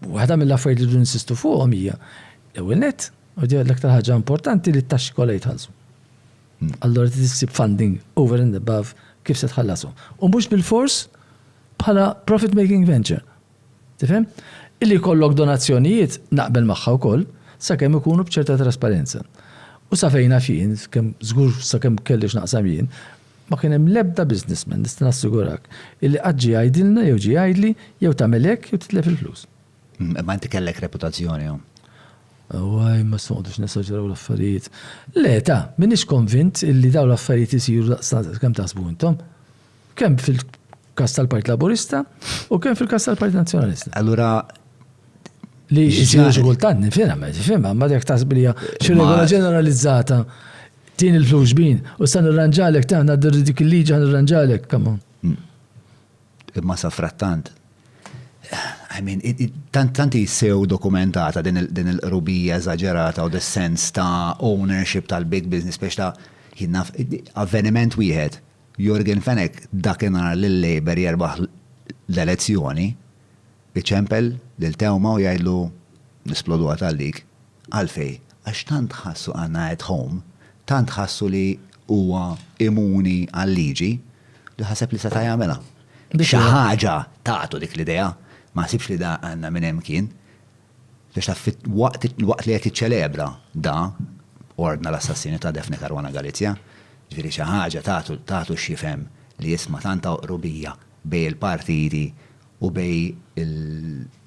Waħda mill-affarijiet li rridu nsistu fuqhom hija l-ewwel net, u di l-aktar ħaġa importanti li t-taxxi kollha jitħallsu. Hmm. Allora trid issib funding over and above kif se tħallashom. U mhux bil-fors bħala profit making venture. Tifhem? Illi kollok donazzjonijiet naqbel magħha wkoll sakemm ikunu b'ċerta trasparenza. U sa fejna fien, kemm żgur sakemm kellix naqsam jien, Ma kien hemm l-ebda businessman, nista' nassigurak, illi qatt ġie jgħidilna jew ġie jgħidli jew tagħmel hekk jew titlef il-flus. Imma inti kellek reputazzjoni hawn. Awwaj, ma se noqgħodux nesaġeraw l-affarijiet. Le, ta, m'iniex konvint illi dawn l-affarijiet isiru daqstant kemm taħsbu intom. Kemm fil-każ tal-Partit Laburista u kemm fil-każ tal-Partit Nazzjonalista. Allura Li jsiru xi kultant nifhimha, ma tifhimha, ma jekk taħseb li hija xi regola ġeneralizzata. Tini l-flus xbin, u sa nirranġalek ta' nadir dik il-liġi għan nirranġalek, come on. Hmm. Imma sa frattant, I mean, tanti sew dokumentata din il-qrubija eżagġerata u dis-sens ta' ownership tal-big business biex ta' jinna avveniment wieħed. Jorgen Fenek dakinhar lil Labour jerbaħ l-elezzjoni, iċempel lil Tewma u jgħidlu nisplodu għatallik. Għalfejn? Għax tant ħassu Anna at home, tant ħassu li huwa immuni għal-liġi, li ħaseb li seta' jagħmilha. Biex xi ħaġa tatu dik l-idea, ma ħsibx li da Anna minn hemm kien. Għax taf, waqt li qed jiċċelebra da ordna l-assassinju ta' Daphne Caruana Galizia, ġifieri xi ħaġa tatu x'jifhem li isma' tant ta' qrubija bejn il-partiti u bejn il-,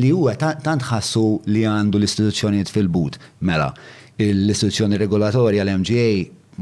Li hu tant ħassu li għandu l-istituzzjonijiet fil-but. Mela, l-istituzzjoni regolatorja, l-MGA,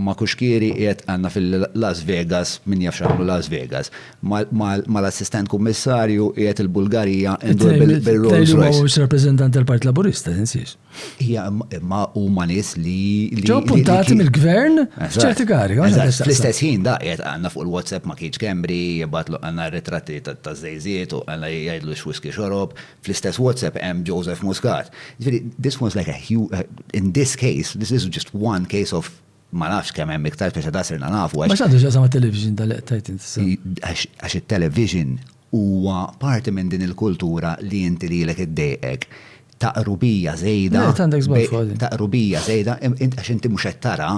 ma' kuxkieri qiegħed għandna fil-Las Vegas, min jaf x'għamlu Las Vegas. Mal-Assistent Kummissarju qiegħed il-Bulgarija indur bil-Rolls Royce. Tgħidli huwa mhux rappreżentant tal-Partit Laburista, tinsiex. Hija imma huma nies li. Ġew appuntati mill-gvern f'ċerti kari. Fl-istess ħin da qiegħed għandna fuq il-WhatsApp ma kienx kembri, jibgħatlu għandna ritratti ta' żejżiet u għandna jgħidlu x'wiski xorob. Fl-istess WhatsApp hemm Joseph Muscat. This was like a huge, in this case, this is just one case of Ma nafx kemm hemm iktar biex da sirna nafu għax. Ma x'għandu x'jaqsam mat-television dan li qed tgħid int issa? Għax it-television huwa parti minn din il-kultura li inti lilek iddejqek ta' qrubija żejda. Le, għandek żball fuqha din. Ta' qrubija żejda għax inti mhux qed tara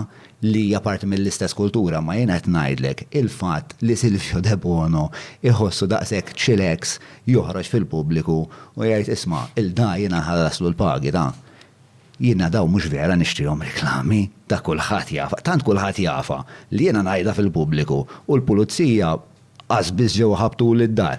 li hija parti mill-istess kultura imma jiena qed ngħidlek il-fatt li Silvio Debono jħossu daqshekk chilex joħroġ fil-pubbliku u jgħid isma' 'l da jiena nħallaslu l-pagi ta'. Jiena dawn mhux vera nixtrihom reklami, dak kulħadd jafha, tant kulħadd jafha li jiena ngħidha fil-pubbliku u l-pulizija qas biss ġew iħabbtuli d-dar.